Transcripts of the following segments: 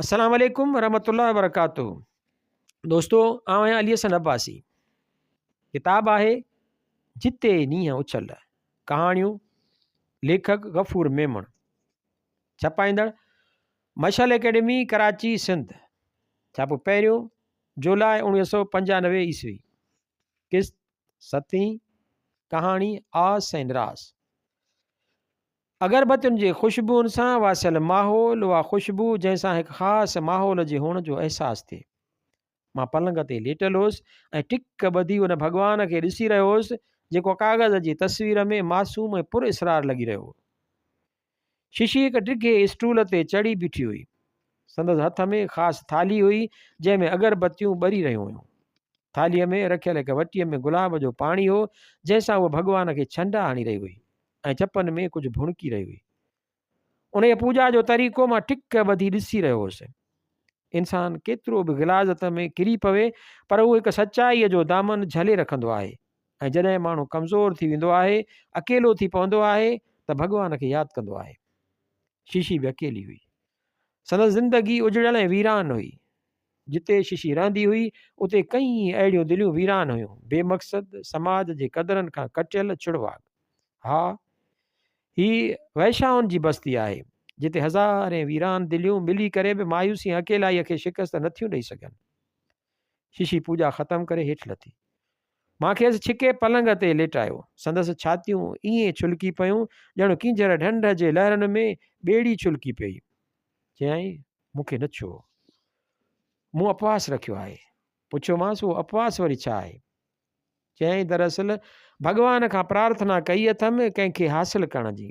السلام عليڪم ورحمة الله وبرڪاته دوستو آئون آهيان علي حسن عباسي ڪتاب آهي جتي نينهن اڇل ڪهاڻيون ليکڪ غفور ميمڻ ڇپائيندڙ مشعل اڪيڊمي ڪراچي سنڌ ڇاپو پهريون جولاء اوڻيهه سو پنجانوي عيسوي قسط ستين ڪهاڻي آس ۽ راس اگربتين جي خوشبوئن سان واسيل ماحول، اها خوشبو جنهن سان هڪ خاص ماحول جي هئڻ جو احساس ٿئي. مان پلنگ تي ليٽل هوس ۽ ٽڪ ٻڌي ان ڀڳوان کي ڏسي رهيو هوس جيڪو ڪاغذ جي تصوير ۾ معصوم ۽ پر اسرار لڳي رهيو هو. ششي هڪ ڊگهي اسٽول تي چڙهي بيٺي هئي. سندس هٿ ۾ خاص ٿالهي هئي جنهن ۾ اگربتيون ٻري رهيون هيون. ٿالهيء ۾ رکيل هڪ وٽيء ۾ گلاب جو پاڻي هو جنهن سان هوء ڀڳوان کي ڇنڊا هڻي رهي هئي. ۽ چپن ۾ ڪجهه ڀڻڪي رهي هئي. انهيء پوڄا جو طريقو مان ٽڪ ٻڌي ڏسي رهيو هوس. انسان ڪيترو به غلاظت ۾ ڪري پوي پر هو هڪ سچائيء جو دامن جهلي رکندو آهي ۽ جڏهن ماڻهو ڪمزور ٿي ويندو آهي، اڪيلو ٿي پوندو آهي ته ڀڳوان کي ياد ڪندو آهي. شيشي به اڪيلي هئي. سندس زندگي اجڙيل ۽ ويران هئي. جتي ششي رهندي هئي، اتي ڪئين اهڙيون دليون ويران هيون، بي مقصد، سماج جي قدرن کان ڪٽيل ڇڙواڳ. ها، هي وئشائن جي بستي آهي، جتي هزارين ويران دليون ملي ڪري به مايوسي ۽ اڪيلائيء کي شڪست نٿيون ڏئي سگهن. ششي پوڄا ختم ڪري هيٺ لٿي. مان کيس ڇڪي پلنگ تي ليٽايو. سندس ڇاتيون ائين ڇلڪي پيون ڄڻ ڪينجهر ڍنڍ جي لهرن ۾ ٻيڙي ڇلڪي پئي. چيائين، مون کي نه ڇهو. مون اپواس رکيو آهي. پڇيومانس، اهو اپواس وري ڇا آهي؟ چيائين، دراصل ڀڳوان کان پرارٿنا ڪئي اٿم ڪنهن کي حاصل ڪرڻ جي.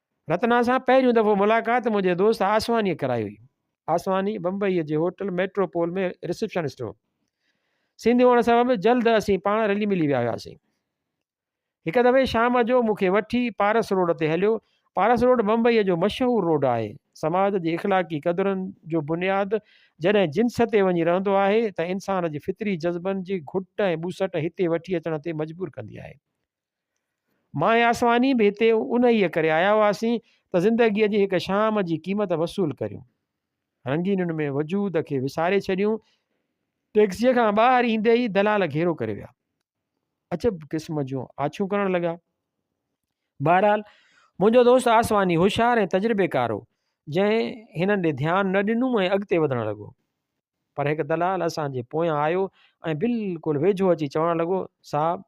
رتنا سان پهريون دفعو ملاقات منهنجي دوست آسوانيء ڪرائي هئي. آسواني بمبئيء جي هوٽل ميٽرو پول ۾ رسيپشنسٽ هو. سنڌي هئڻ سبب جلد اسين پاڻ رلي ملي ويا هياسين. هڪ دفعي شام جو مون کي وٺي پارس روڊ تي هليو. پارس روڊ بمبئيء جو مشهور روڊ آهي. سماج جي اخلاقي قدرن جو بنياد جڏهن جنس تي وڃي رهندو آهي ته انسان جي فطري جذبن جي گهٽ ۽ ٻوسٽ هتي وٺي اچڻ تي مجبور ڪندي آهي. ماء آسماني به هتي انهيء ڪري آيا هئاسين ته زندگيء جي هڪ شام جي قيمت وصول ڪريون. رنگينن ۾ وجود کي وساري ڇڏيون. ٽيڪسيء کان ٻاهر ايندي ئي دلال گهيرو ڪري ويا. عجب قسم جون آڇون ڪرڻ لڳا. بهرحال منهنجو دوست آسماني هوشيار ۽ تجربيڪار هو جنهن هنن ڏي ڌيان نه ڏنو ۽ اڳتي وڌڻ لڳو. پر هڪ دلال اسان جي پويان آيو ۽ بلڪل ويجهو اچي چوڻ لڳو، صاحب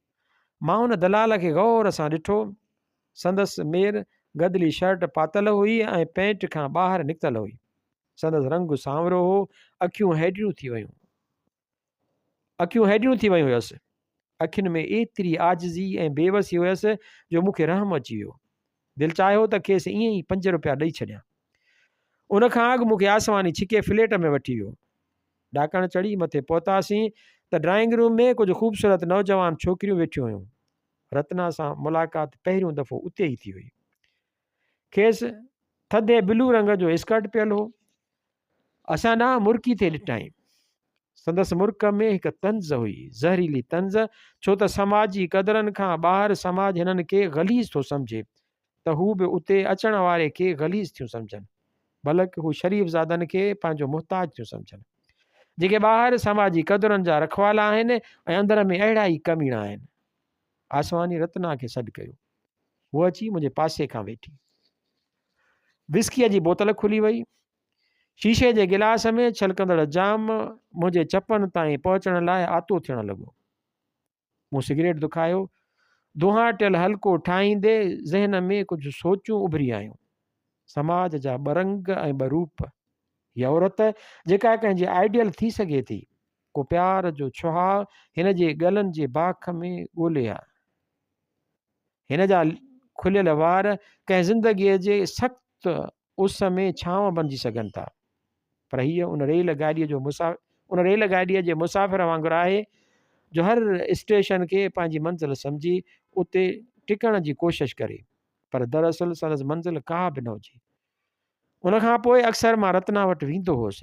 مان ان دلال کي غور سان ڏٺو. سندس مير گدلي شرٽ پاتل هئي ۽ پينٽ کان ٻاهر نڪتل هئي. سندس رنگ سانورو هو، اکيون هيڊيون ٿي ويون. اکيون هيڊيون ٿي ويون هيس. اکين ۾ ايتري عاجزي ۽ بيوسي هيس جو مون کي رحم اچي ويو. دل چاهيو ته کيس ائين ئي پنج روپيا ڏئي ڇڏيان. ان کان اڳ مون کي آسواني ڇڪي فليٽ ۾ وٺي ويو. ڏاڪڻ چڙهي مٿي پهتاسين ته ڊرائنگ روم ۾ ڪجهه خوبصورت نوجوان ڇوڪريون ويٺيون هيون. رتنا سان ملاقات پهريون دفعو اتي ئي ٿي هئي. کيس ٿڌي بلو رنگ جو اسڪرٽ پيل هو. اسان ڏانهن مرڪي ٿي ڏٺائين. سندس مرڪ ۾ هڪ طنز هئي، زهريلي طنز، ڇو ته سماجي قدرن کان ٻاهر سماج هنن کي غليظ ٿو سمجهي ته هو به اتي اچڻ واري کي غليظ ٿيون سمجهن. بلڪ هو شريف زادن کي پنهنجو محتاج ٿيون سمجهن. جيڪي ٻاهر سماجي قدرن جا رکوالا آهن ۽ اندر ۾ اهڙا ئي ڪميڻا آهن. آسواني رتنا کي سڏ ڪيو. هوء اچي منهنجي پاسي کان ويٺي. وسڪيء جي بوتل کلي وئي. شيشي جي گلاس ۾ ڇلڪندڙ جام منهنجي چپن تائين پهچڻ لاء آتو ٿيڻ لڳو. مون سگريٽ دکايو. دونهاٽيل حلقو ٺاهيندي ذهن ۾ ڪجهه سوچون اڀري آيون. سماج جا ٻه رنگ ۽ ٻه روپ. هي عورت جيڪا ڪنهن جي آئيڊيل ٿي سگهي ٿي. ڪو پيار جو ڇهاء هن جي ڳلن جي باک ۾ ڳولي آ. هن جا کليل وار ڪنهن زندگيء جي سخت اس ۾ ڇانو بنجي سگهن ٿا. پر هيء ان ريل گاڏيء جو مسافر ان ريل گاڏيء جي مسافر وانگر آهي جو هر اسٽيشن کي پنهنجي منزل سمجهي اتي ٽڪڻ جي ڪوشش ڪري پر دراصل سندس منزل ڪا به نه هجي. ان کان پوء اڪثر مان رتنا وٽ ويندو هوس.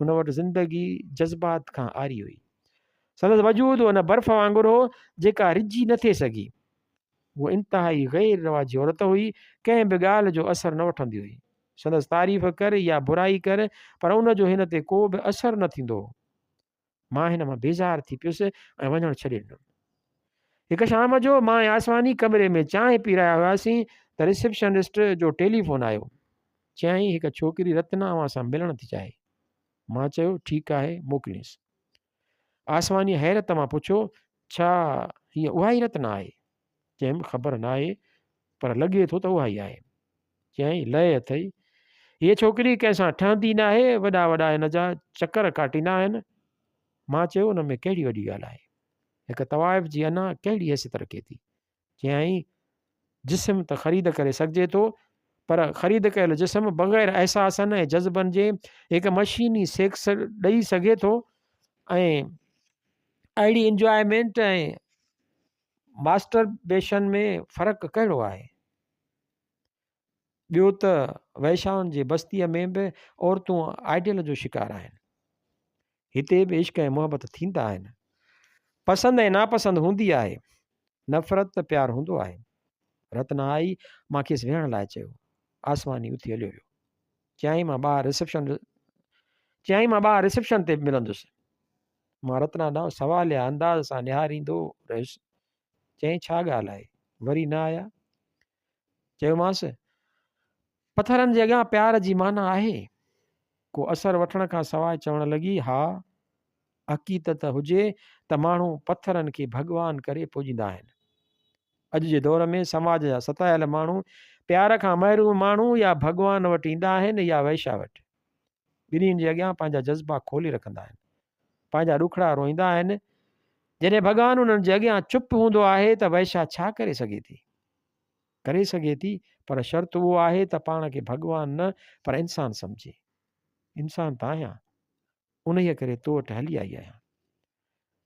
هن وٽ زندگي جذبات کان آري هئي. سندس وجود ان برف وانگر هو جيڪا رجي نه ٿي سگهي. هو انتهائي غير رواجي عورت هئي، ڪنهن به ڳالهه جو اثر نه وٺندي هئي. سندس تعريف ڪر يا برائي ڪر پر ان جو هن تي ڪو به اثر نه ٿيندو هو. مان هن مان بيزار ٿي پيس ۽ وڃڻ ڇڏي ڏنم. هڪ شام جو مان ۽ آسواني ڪمري ۾ چانهه پي رهيا هئاسين ته رسيپشنسٽ جو ٽيليفون آيو. چيائين هڪ ڇوڪري رتنا اوهان سان ملڻ ٿي چاهي. مان چيو ٺيڪ آهي موڪلينس. آسواني حيرت مان پڇيو ڇا هيء اها ئي رتنا آهي؟ چيم خبر ناهي پر لڳي ٿو ته اهائي آهي. چيائين لئه اٿئي. هيء ڇوڪري ڪنهن سان ٺهندي ناهي، وڏا وڏا هن جا چڪر ڪاٽيندا آهن. مان چيو ان ۾ ڪهڙي وڏي ڳالهه آهي. هڪ طوائف جي انا ڪهڙي حيثيت رکي ٿي. چيائين جسم ته خريد ڪري سگهجي ٿو پر خريد ڪيل جسم بغير احساسن ۽ جذبن جي هڪ مشيني سيڪس ڏئي سگهي ٿو ۽ اهڙي انجوائمينٽ ۽ ماسٽربيشن ۾ فرق ڪهڙو آهي؟ ٻيو ته وئشائن جي بستيء ۾ به عورتون آئيڊيل جو شڪار آهن هتي به عشق ۽ محبت ٿيندا آهن پسند ۽ ناپسند هوندي آهي نفرت ته پيار هوندو آهي رتنا آئي مان کيس ويهڻ لاء چيو آسماني اٿي هليو ويو چيائين مان ٻاهر رسپشن چيائين مان ٻاهر رسپشن تي ملندس مان رتنا ڏانهن سواليه انداز سان نهاريندو رهيس، چيائين ڇا ڳالهه آهي؟ وري نه آيا؟ چيومانس پٿرن جي اڳيان پيار جي معنيٰ آهي؟ ڪو اثر وٺڻ کان سواء چوڻ لڳي ها حقيتت هجي ته ماڻهو پٿرن کي ڀڳوان ڪري پوڄيندا آهن. اڄ جي دور ۾ سماج جا ستايل ماڻهو پيار کان محروم ماڻهو يا ڀڳوان وٽ ايندا آهن يا وئشا وٽ. ٻنهين جي اڳيان پنهنجا جذبا کولي رکندا آهن. پنهنجا ڏکڙا روئيندا آهن. جڏهن ڀڳوان انهن جي اڳيان چپ هوندو آهي ته وئشا ڇا ڪري سگهي ٿي؟ ڪري سگهي ٿي پر شرط اهو آهي ته پاڻ کي ڀڳوان نه پر انسان سمجهي. انسان ته آهيان. انهيء ڪري تو وٽ هلي آئي آهيان.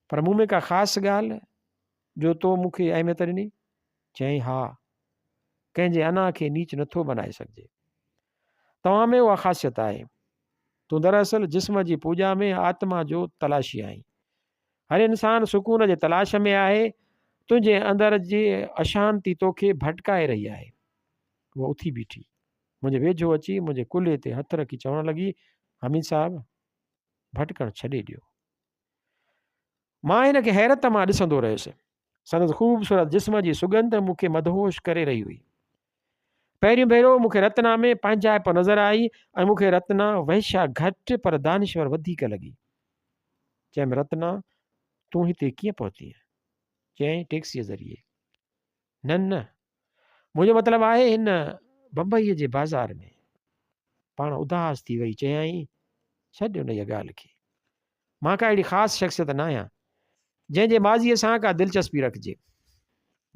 پر مون ۾ ڪا خاص ڳالهه جو تو مون کي اهميت ڏني؟ چيائين، ها! ڪنهن جي انا کي نيچ نٿو بنائي سگهجي. توهان ۾ اها خاصيت آهي. تون دراصل جسم جي پوڄا ۾ آتما جو تلاشي آهين. هر انسان سڪون جي تلاش ۾ آهي، تنهنجي اندر جي اشانتي توکي ڀٽڪائي رهي آهي. هوء اٿي بيٺي. منهنجي ويجهو اچي منهنجي ڪلهي تي هٿ رکي چوڻ لڳي، حميد صاحب! ڀٽڪڻ ڇڏي ڏيو. مان هن کي حيرت مان ڏسندو رهيس. سندس خوبصورت جسم جي سڳنڌ مون کي مدهوش ڪري رهي هئي. پهريون ڀيرو مون کي رتنا ۾ پنهنجائپ نظر آئي ۽ مون کي رتنا وحشا گهٽ پر دانشور وڌيڪ لڳي. چيم رتنا تون هتي ڪيئن پهتينء؟ چيائين ٽيڪسيء ذريعي. نه نه منهنجو مطلب آهي هن بمبئيء جي بازار ۾. پاڻ اداس ٿي وئي چيائين، ڇڏ انهيء ڳالهه کي. مان ڪا اهڙي خاص شخصيت نه آهيان، جنهن جي ماضيء سان ڪا دلچسپي رکجي.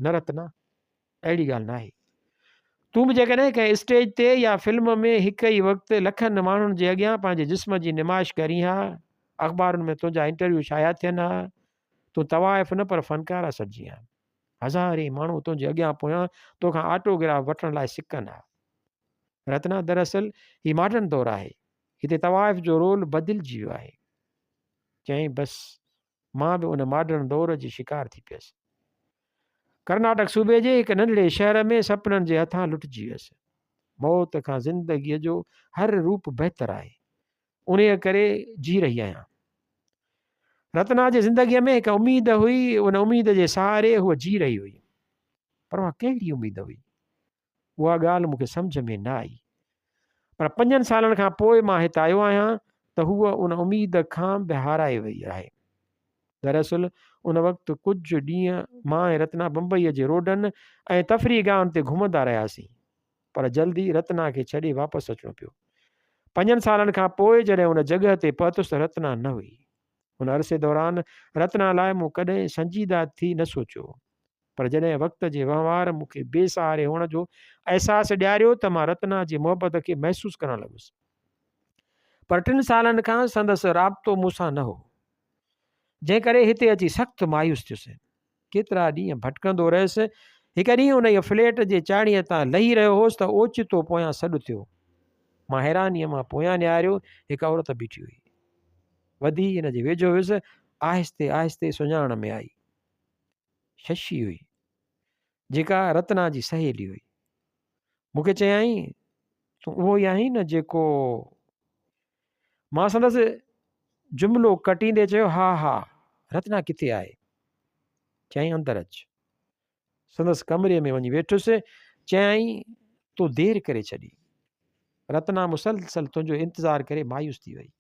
نه رتنا، اهڙي ڳالهه ناهي. تون به جيڪڏهن ڪنهن اسٽيج تي يا فلم ۾ هڪ ئي وقت لکن ماڻهن جي اڳيان پنهنجي جسم جي نمائش ڪرين ها، اخبارن ۾ تنهنجا انٽرويو شايع ٿين ها، تون طوائف نه پر فنڪار اسدجي آهين. هزارين ماڻهو تنهنجي اڳيان پويان توکان آٽوگراف وٺڻ لاء سڪن ها. رتنا دراصل هي ماڊرن دور آهي. هتي طوائف جو رول بدلجي ويو آهي. چيائين بس مان به ان ماڊرن دور جي شڪار ٿي پيس. ڪرناٽڪ صوبي جي هڪ ننڍڙي شهر ۾ سپنن جي هٿان لٽجي ويس. موت کان زندگيء جو هر روپ بهتر آهي. انهيء ڪري جي رهي آهيان. رتنا جي زندگيء ۾ هڪ اميد هئي، ان اميد جي سهاري هوء جي رهي هئي. پر اها ڪهڙي اميد هئي؟ اها ڳالهه مون کي سمجهه ۾ نه آئي. پر پنجن سالن کان پوء مان هت آيو آهيان ته هوء ان اميد کان به هارائي ويئي آهي. دراصل ان وقت ڪجهه ڏينهن مان ۽ رتنا بمبئيء جي روڊن ۽ تفريح گاهن تي گهمندا رهياسين. پر جلد ئي رتنا کي ڇڏي واپس اچڻو پيو. پنجن سالن کان پوء جڏهن ان جڳهه تي پهتس ته رتنا نه هئي. ان عرصي دوران رتنا لاء مون ڪڏهن سنجيده ٿي نه سوچيو. پر جڏهن وقت جي وهنوار مون کي بي سهاري هئڻ جو احساس ڏياريو ته مان رتنا جي محبت کي محسوس ڪرڻ لڳس. پر ٽن سالن کان سندس رابطو مون سان نه هو. جنهن ڪري هتي اچي سخت مايوس ٿيس. ڪيترا ڏينهن ڀٽڪندو رهيس. هڪ ڏينهن انهيء فليٽ جي چاڙهيء تان لهي رهيو هوس ته اوچتو پويان سڏ ٿيو. مان حيرانيء مان پويان نهاريو، هڪ عورت بيٺي هئي. وڌي هن جي ويجهو ويس، آهستي آهستي سڃاڻڻ ۾ آئي. ششي هئي، جيڪا رتنا جي سهيلي هئي. مون کي چيائين، تون اهو ئي آهين نه جيڪو مان سندس جملو ڪٽيندي چيو، ها ها، رتنا ڪٿي آهي؟ چيائين اندر اچ. سندس ڪمري ۾ وڃي ويٺس، چيائين تو دير ڪري ڇڏي. رتنا مسلسل تنهنجو انتظار ڪري مايوس ٿي وئي.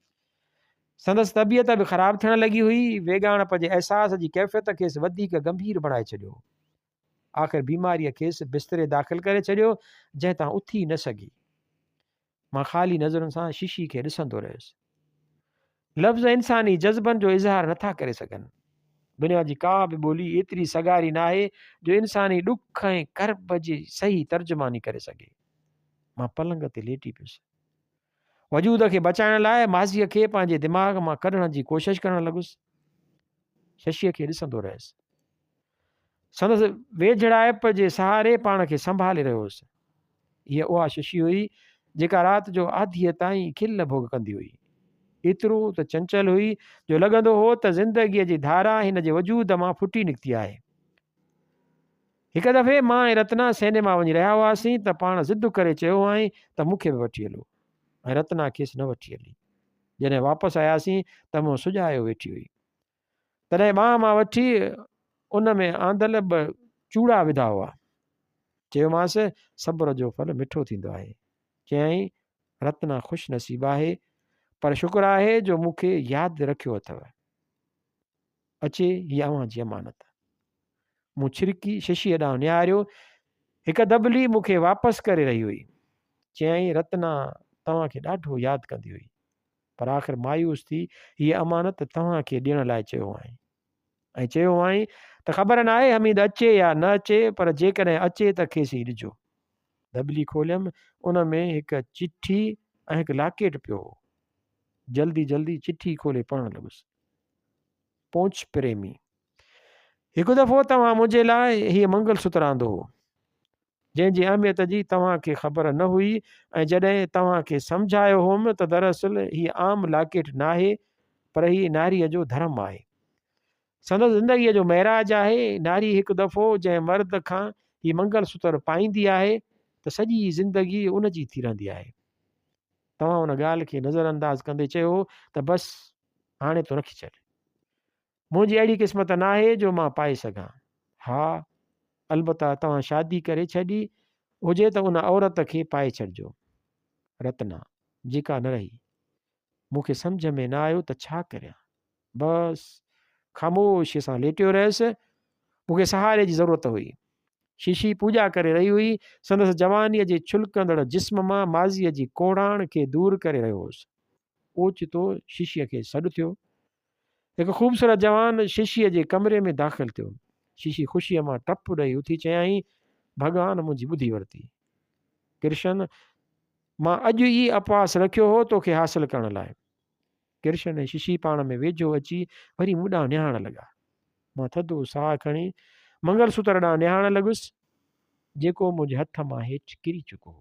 سندس طبيعت به خراب ٿيڻ لڳي هئي، ويڳاڻپ جي احساس جي ڪيفيت کيس وڌيڪ گنڀير بڻائي ڇڏيو. آخر بيماريء کيس بستري داخل ڪري ڇڏيو، جنهن تان اٿي نه سگهي. مان خالي نظرن سان شيشي کي ڏسندو رهيس. لفظ انساني جذبن جو اظهار نٿا ڪري سگهن. دنيا جي ڪا به ٻولي ايتري سگهاري ناهي جو انساني ڏک ۽ ڪرب جي صحيح ترجماني ڪري سگهي. مان پلنگ تي ليٽي پيس. وجود کي بچائڻ لاء ماضيء کي پنهنجي دماغ مان ڪڍڻ جي ڪوشش ڪرڻ لڳس. ششيء کي ڏسندو رهيس. سندس ويجهڙائپ جي سهاري پاڻ کي سنڀالي رهيو هوس. هيء اها ششي هئي، جيڪا رات جو آڌيء تائين کل ڀوڳ ڪندي هئي. ايترو ته چنچل هئي، جو لڳندو هو ته زندگيء جي ڌارا هن جي وجود مان ڦٽي نڪتي آهي. هڪ دفعي مان ۽ رتنا سينيما وڃي رهيا هئاسين ته پاڻ ضد ڪري چيو هئائين ته مون کي به وٺي هلو. ۽ رتنا کيس نه وٺي هلي. جڏهن واپس آياسين ته مون سجايو ويٺي هئي. تڏهن ٻانهن مان وٺي ان ۾ آندل ٻه چوڙا وڌا هئا چيومانس صبر جو ڦل مٺو ٿيندو آهي چيائين رتنا خوش نصيب آهي پر شڪر آهي جو مون کي ياد رکيو اٿو اچي هي اوهان جي امانت مون ڇرڪي ششيء ڏانهن نهاريو هڪ دبلي مون کي واپس ڪري رهي هئي چيائين رتنا توهان کي ڏاڍو ياد ڪندي هئي پر آخر مايوس ٿي هيء امانت توهان کي ڏيڻ لاء چيو هئائين ۽ چيو هئائين ته خبر ناهي حميد اچي يا نه اچي پر جيڪڏهن اچي ته کيس ئي ڏجو. دٻلي کوليم ان ۾ هڪ چٺي ۽ هڪ لاڪيٽ پيو هو. جلدي جلدي چٺي کولي پڙهڻ لڳس. پونچ پريمي. هڪ دفعو توهان منهنجي لاء هيء منگل ستر آندو هو. جنهن جي اهميت جي توهان کي خبر نه هئي ۽ جڏهن توهان کي سمجهايو هوم ته دراصل هي عام لاڪيٽ ناهي پر هي ناريء جو ڌرم آهي. سندس زندگيء جو معراج آهي. ناري هڪ دفعو جنهن مرد کان هي منگل سوتر پائيندي آهي ته سڄي زندگي ان جي ٿي رهندي آهي. توهان ان ڳالهه کي نظر انداز ڪندي چيو هو ته بس هاڻي تون رکي ڇڏ. منهنجي اهڙي قسمت ناهي جو مان پائي سگهان. ها البته توهان شادي ڪري ڇڏي هجي ته ان عورت کي پائي ڇڏجو. رتنا، جيڪا نه رهي. مون کي سمجهه ۾ نه آيو ته ڇا ڪريان. بس خاموشيء سان ليٽيو رهيس. مون کي سهاري جي ضرورت هئي. ششي پوڄا ڪري رهي هئي. سندس جوانيء جي ڇلڪندڙ جسم مان ماضيء جي ڪوڙاڻ کي دور ڪري رهيو هوس. اوچتو ششيء کي سڏ ٿيو. هڪ خوبصورت جوان ششيء جي ڪمري ۾ داخل ٿيو. ششي خوشيء مان ٽپ ڏئي اٿي چيائين، ڀڳوان منهنجي ٻڌي ورتي. ڪرشن، مان اڄ ئي اپواس رکيو هو توکي حاصل ڪرڻ لاء. ڪرشن ۽ ششي پاڻ ۾ ويجهو اچي وري مون ڏانهن نهاڻ لڳا. مان ٿڌو ساهه کڻي منگل سوتر ڏانهن نهاڻ لڳس، جيڪو منهنجي هٿ مان هيٺ ڪري چڪو هو.